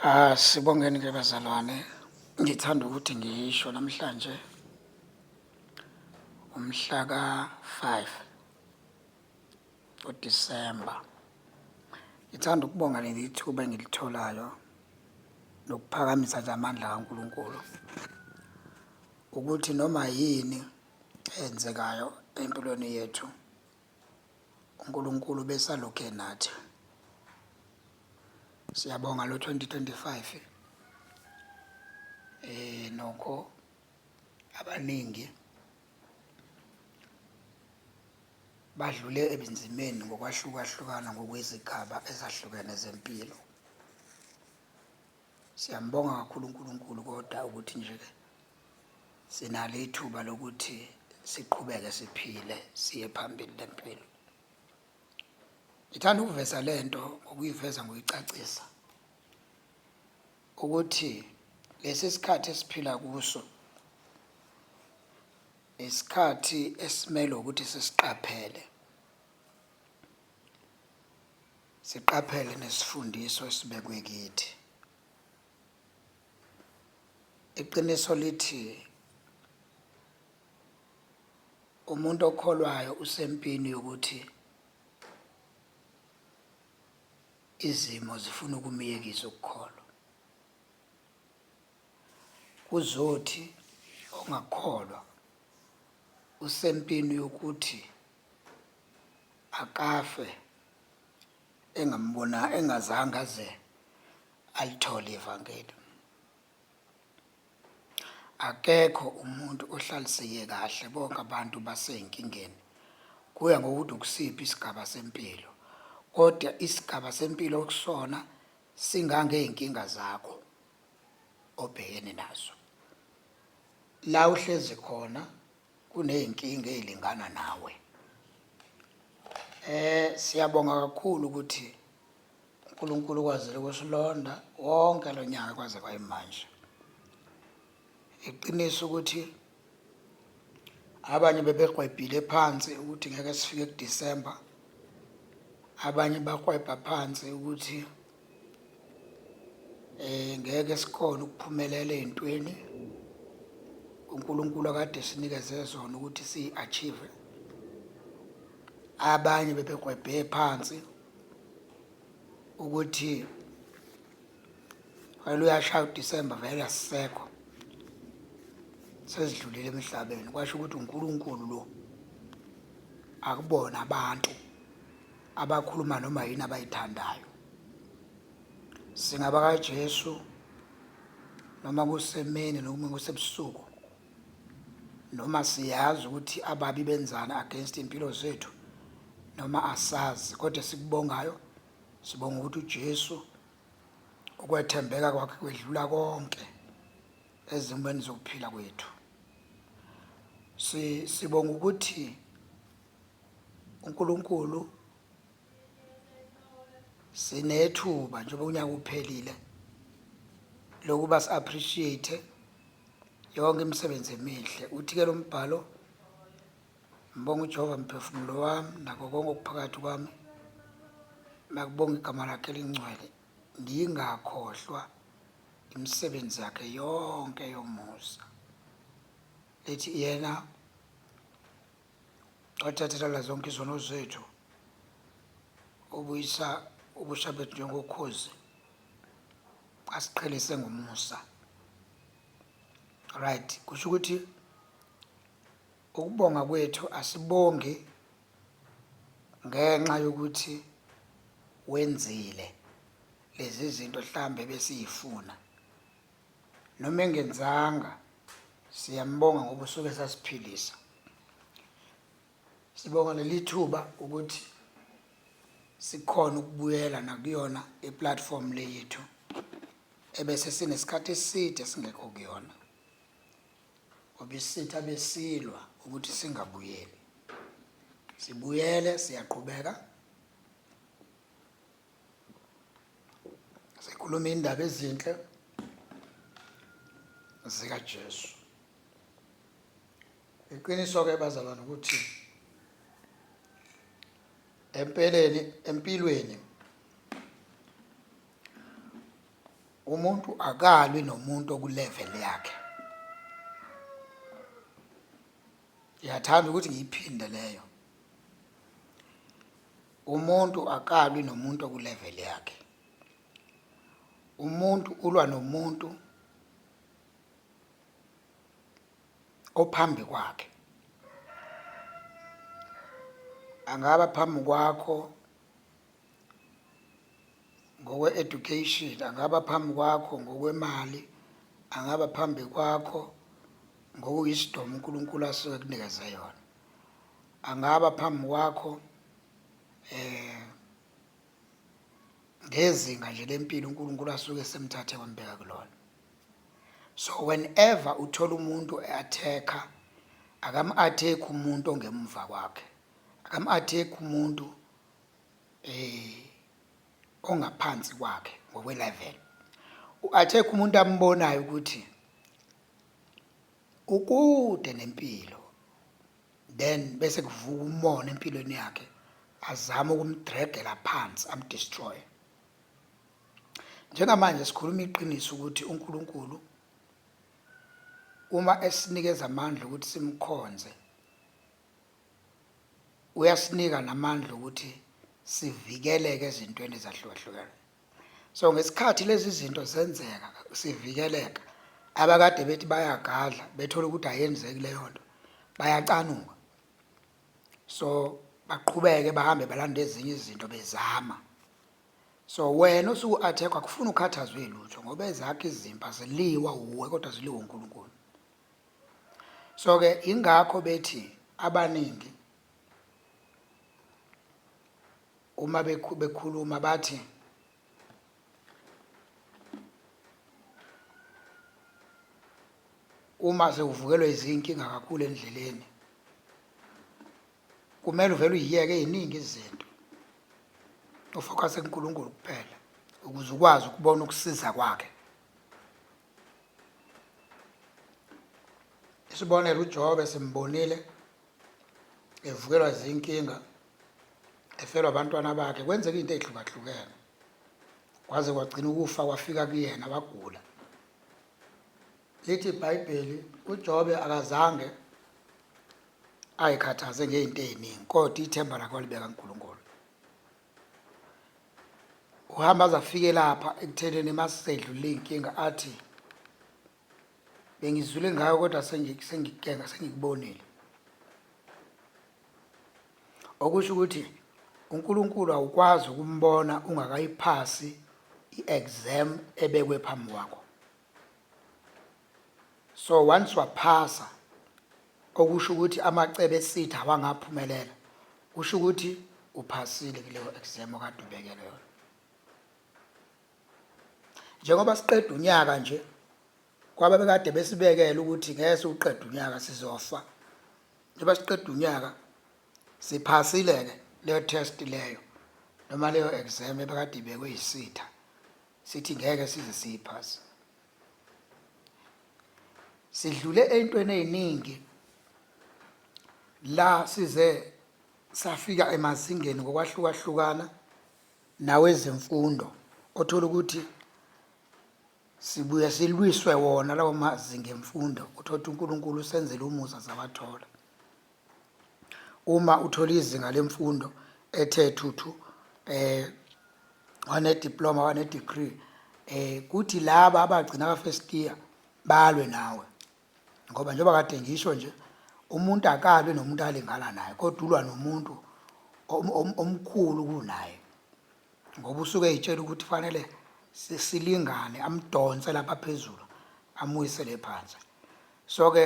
Ah sibongeni ke bazalwane ngithanda ukuthi ngisho namhlanje umhla ka 5 uDisemba ngithanda ukubonga leli thuba engilitholayo nokuphakamisa nje amandla kaNkuluNkulu ukuthi noma yini eyenzekayo empilweni yethu uNkulunkulu besalokhu enathi siyabonga lo 2025 eh nokho abaningi badlule ebinzimeni ngokwahlukahlukana ngokwezigaba ezahlukene zempilo Siyambonga kakhulu uNkulunkulu kodwa ukuthi nje ke sinalo ithuba lokuthi siqhubeke siphile siye phambili lempilo. Ngithanda ukuveza lento ngokuyiveza ngoyicacisa ukuthi lesi sikhathi esiphila kuso isikhathi esimele ukuthi sisiqaphele Siqaphele nesifundiso esibekwe kithi. Iqiniso lithi umuntu okholwayo usempini yokuthi izimo zifuna ukumyekisa ukukholwa. Kuzothi ongakholwa usempini yokuthi akafe engambona engazange aze alithole ivangeli akekho umuntu ohlaliseke kahle bonke abantu baseyinkingeni kuya ngokuthi ukusiphi isigaba sempilo kodwa isigaba sempilo okusona singangey'nkinga zakho obhekene nazo la uhlezi khona kuney'nkinga ey'lingana nawe eh siyabonga kakhulu ukuthi uNkulunkulu ukwazile ukusilonda wonke lo nyaka kwaze kwayimanje iqiniso ukuthi abanye bebegwebhile phansi ukuthi ngeke sifike kuDisemba abanye bakwebha phansi ukuthi eh ngeke sikhona ukuphumelela ezintweni uNkulunkulu akade sinikeze zona ukuthi siachieve abanye bebegwebhe phansi ukuthi wena uyashaya uDecember vele asisekho sezidlulile emhlabeni kwasho ukuthi uNkulunkulu lo akubona abantu abakhuluma noma yini abayithandayo singaba kaJesu noma kusemini noma kusebusuku noma siyazi ukuthi ababi benzani against impilo zethu noma asazi kodwa sikubongayo sibonga ukuthi uJesu ukwethembeka kwakhe kwedlula konke ezimweni zokuphila kwethu si sibonga ukuthi uNkulunkulu sinethuba njengoba unyaka uphelile lokuba si-appreciate yonke imisebenzi emihle uthi-ke lo mbhalo ngibonga ujehova mphefumulo wami nako konke okuphakathi kwami makubonga igama lakhe elingcwele ngingakhohlwa imisebenzi yakhe yonke yomusa lethi yena wathathelela zonke izono zethu ubuyisa ubusha bethu njengokhozi asiqhelise ngomusa right kusho ukuthi ukubonga kwethu asibongi ngenxa yokuthi wenzile lezi zinto mhlambe besiyifuna noma engenzanga siyambonga ngoba usuke sasiphilisa sibonga leli thuba ukuthi sikhona ukubuyela nakuyona iplatform le yethu ebese sinesikhathi eside singekho kuyona ngoba isitha besilwa ukuthi singabuyeli sibuyele siyaqhubeka sikhuluma indaba ezinhle zikaJesu iqiniso ke bazalwane ukuthi empeleni empilweni umuntu akalwi nomuntu okulevel yakhe ngiyathanda ukuthi ngiyiphinde leyo Umuntu akalwi nomuntu okulevel yakhe. Umuntu ulwa nomuntu ophambi kwakhe. Angaba phambi kwakho ngokwe-education, angaba phambi kwakho ngokwemali, angaba phambi kwakho ngokuyisidoma uNkulunkulu asuke kunikeze yona. Angaba phambi kwakho eh ngezinga nje lempilo uNkulunkulu asuke esemthathe wambeka kulona so whenever uthola umuntu eatheka akamu-athekhi umuntu ongemuva kwakhe akamu-athekhi umuntu eh ongaphansi kwakhe ngokwelevel u-athekhi umuntu ambonayo ukuthi ukude nempilo then bese kuvuka umona empilweni yakhe azama ukumdregela phansi amdestroye njengamanje sikhuluma iqiniso ukuthi uNkulunkulu uma esinikeza amandla ukuthi simkhonze uyasinika namandla ukuthi sivikeleke ezintweni ezahlukahlukene so ngesikhathi lezi zinto zenzeka sivikeleka abakade bethi bayagadla bethola ukuthi ayenzeki leyo nto bayacanuka so baqhubeke bahambe balanda ezinye izinto bezama so wena osuku-athekwa kufuna ukhathazwe lutho ngoba ezakho izimpi aziliwa wuwe kodwa ziliwe unkulunkulu so-ke yingakho bethi abaningi uma bekhuluma bathi uma sewuvukelwa izinkinga kakhulu endleleni kumele uvele uyiyeke eziningi izinto ufocuse kuNkulunkulu kuphela ukuze ukwazi ukubona ukusiza kwakhe Isibonelo uJobe simbonile evukelwa izinkinga efelwa abantwana bakhe kwenzeka into ezihlukahlukene kwaze kwagcina ukufa kwafika kuyena wagula lithi iBhayibheli uJobe akazange ayikhathaze ngezinto eziningi kodwa ithemba lakhe walibeka kuNkulunkulu uhamba aze afike lapha ekuthenini masedlule iy'nkinga athi bengizule ngayo kodwa sengikukenga sengikubonile okusho ukuthi uNkulunkulu awukwazi ukumbona ungakayiphasi i-exam ebekwe phambi kwakho so once waphasa okusho ukuthi amacebe esitha awangaphumelela kusho ukuthi uphasile kuleyo exam okade ubekele yona njengoba siqeda unyaka nje kwaba bekade besibekele ukuthi ngeke siwuqeda unyaka sizofa njengoba siqeda unyaka siphasile-ke leyo test leyo noma leyo exam ebekade ibekwe yisitha sithi ngeke size siyiphase sidlule ey'ntweni ey'ningi la size safika emazingeni ngokwahlukahlukana nawezemfundo othola ukuthi sibuye silwiswe wona lawo mazinga emfundo uthola ukuthi uNkulunkulu usenzele umusa sawathola Uma uthole izinga lemfundo ethe thuthu eh wane diploma wane degree eh kuthi laba abagcina ka first year balwe nawe ngoba njengoba kade ngisho nje umuntu akalwe nomuntu alingana naye kodwa ulwa nomuntu om- om- omkhulu kunaye ngoba usuke eyitshela ukuthi fanele si- silingane amdonse lapha phezulu amuyisele phansi so ke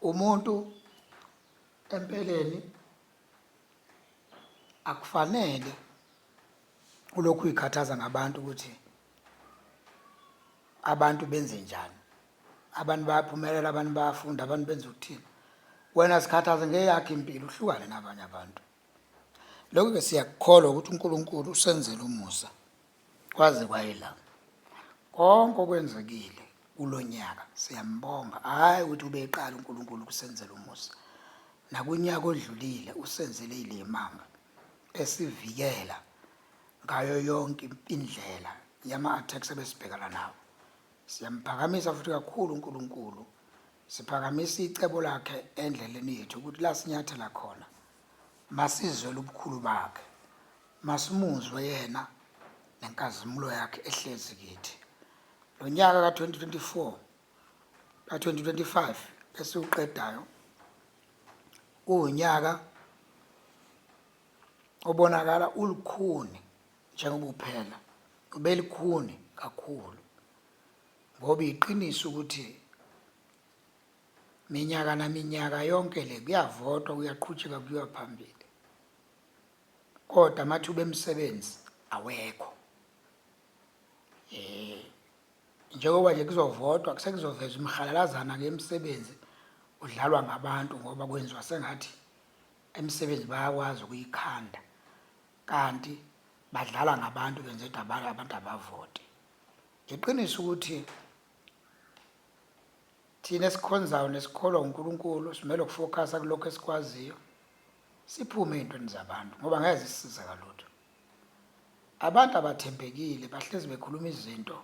umuntu empeleni akufanele ulokhu uyikhathaza ngabantu ukuthi abantu benze njani abantu bayaphumelela abantu bayafunda abantu benza ukuthini wena sikhathaze ngeyakhe impilo uhlukane nabanye abantu lokhu-ke siyakukholwa ukuthi unkulunkulu usenzele umusa Kwaze kwayela. Konke okwenzekile kulonyaka siyambonga hayi ukuthi ubeqala uNkulunkulu kusenzela umusa. Nakunyaka odlulile usenzele ilemanga esivikela ngayo yonke indlela yama attacks ebesibhekana nawo. Siyamphakamisa futhi kakhulu uNkulunkulu. Siphakamisa icebo lakhe endleleni yethu ukuthi lasinyathela khona masizwela ubukhulu bakhe. Masimuzwe yena nenkazimulo yakhe ehlezi kithi. Lo nyaka ka-2024 ka-2025 esiwuqedayo uwunyaka obonakala ulukhuni njengoba uphela ubelikhuni kakhulu ngoba iqiniso ukuthi minyaka naminyaka yonke le kuyavotwa kuyaqhutsheka kuyiwa phambili Kodwa amathuba emisebenzi awekho. Eh njengoba nje kuzovotwa kusekuzoveza umhalalazana ke imisebenzi udlalwa ngabantu ngoba kwenziwa sengathi imisebenzi bayakwazi ukuyikhanda kanti badlala ngabantu benze dabala abantu abavote iqiniso ukuthi thina esikhonzayo nesikholwa uNkulunkulu simele ukufocusa kulokho esikwaziyo Siphume ey'ntweni zabantu ngoba ngeke zisisize ngalutho. Abantu abathembekile bahlezi bekhuluma izinto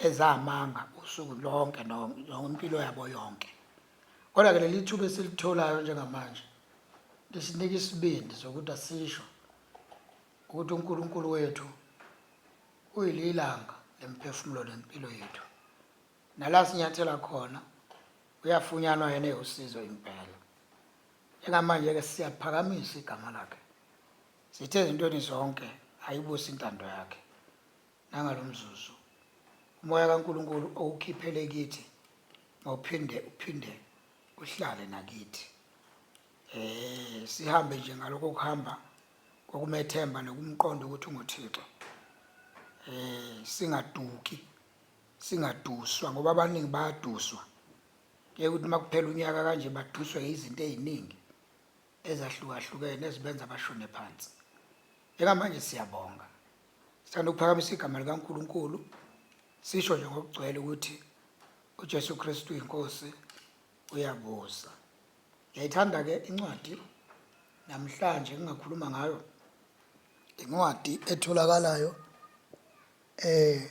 ezamanga usuku lonke no- no- impilo yabo yonke. Kodwa-ke leli thuba esilitholayo njengamanje lisinika isibindi sokuthi asisho ukuthi uNkulunkulu wethu uyililanga lemiphefumulo nempilo yethu. Nala sinyathela khona uyafunyanwa yena ewusizo impela. Njengamanje-ke siyaphakamisa igama lakhe. Sithe ezintweni zonke ayibuse intando yakhe. Nangalo mzuzu umoya kaNkulunkulu owukhiphele kithi mawuphinde uphinde uhlale nakithi. Eh sihambe nje ngalokho kuhamba kokumethemba nokumqonda ukuthi unguThixo. Eh singaduki singaduswa ngoba abaningi bayaduswa ke ukuthi makuphela unyaka kanje baduswe izinto eziningi ezahlukahlukene ezibenza bashone phansi njengamanje siyabonga sithanda ukuphakamisa igama likaNkuluNkulu sisho nje ngokugcwele ukuthi uJesu Kristu inkosi uyabusa ngiyayithanda ke incwadi namhlanje ngingakhuluma ngayo incwadi etholakalayo eh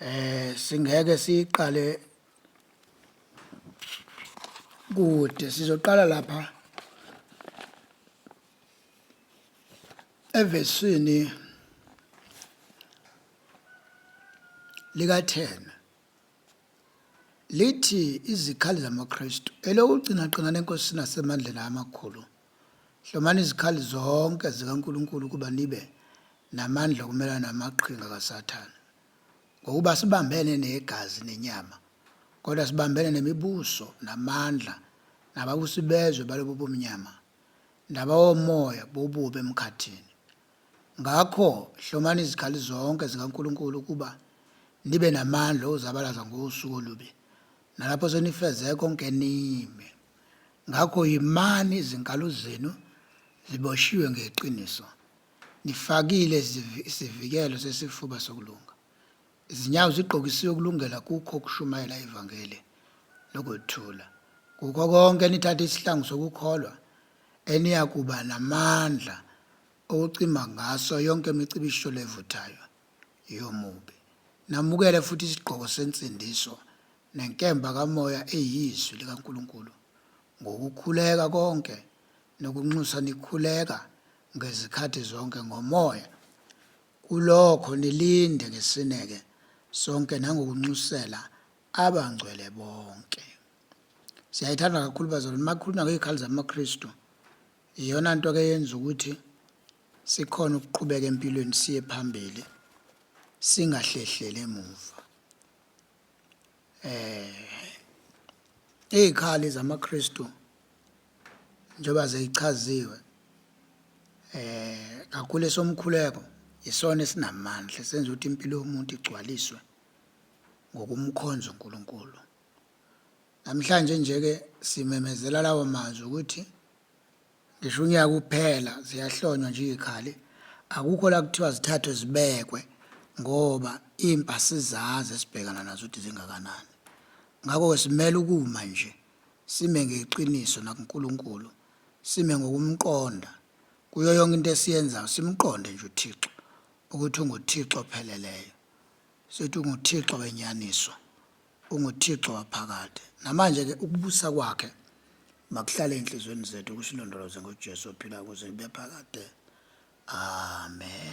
eh singeke siqale kude sizoqala lapha evesini lika 10 lithi izikhali zamaKristu elokugcina qina lenkosi nasemandleni amakhulu Hlomani izikhali zonke zikaNkulunkulu ukuba nibe namandla okumelana namaqhinga kaSathane. Ngokuba sibambene negazi nenyama, kodwa sibambene nemibuso namandla nababusi bezwe balobu bomnyama nabawomoya bobubi emkhathini. Ngakho hlomani izikhali zonke zikaNkulunkulu ukuba nibe namandla okuzabalaza ngosuku olubi nalapho senifeze konke nime. Ngakho yimani izinkalo zenu ziboshiwe ngeqiniso, nifakile izivi- isivikelo sesifuba sokulunga, izinyawo zigqokisiwe ukulungela kukho ukushumayela ivangeli lokuthula. Kukho konke nithathe isihlangu sokukholwa eniyakuba namandla okucima ngaso yonke imicibisholo evuthayo yomubi. Namukele futhi isigqoko sensindiso nenkemba kaMoya eyiZwi likaNkulunkulu, ngokukhuleka konke nokunxusa nikhuleka ngezikhathi zonke ngoMoya, kulokho nilinde ngesineke sonke nangokunxusela abangcwele bonke. Siyayithanda kakhulu bazalwane, uma kukhulunywa ngey'khali zamaKristu, iyona nto-ke yenza ukuthi sikhona ukuqhubeka empilweni siye phambili singahlehleli emuva eh ikhali zamaKristu njengoba zeyichaziwe eh kakhulu esomkhuleko isona esinamandla senza ukuthi impilo yomuntu igcwaliswe ngokumkhonza uNkulunkulu namhlanje nje ke simemezela lawo mazwi ukuthi Ngisho unyaka uphela ziyahlonywa nje izikhali. Akukho la kuthiwa zithathwe zibekwe ngoba impa sizazi esibhekana nazo ukuthi zingakanani. Ngakho-ke simele ukuma nje, sime ngeqiniso nakuNkulunkulu, sime ngokumqonda. Kuyo yonke into esiyenzayo simqonde nje uThixo ukuthi unguThixo opheleleyo. Sithi unguThixo wenyaniswa. UnguThixo waphakade. Namanje-ke ukubusa kwakhe makuhlale enhliziyweni zethu kusilondoloze ngoJesu ophilayo kuze kube phakade. Amen.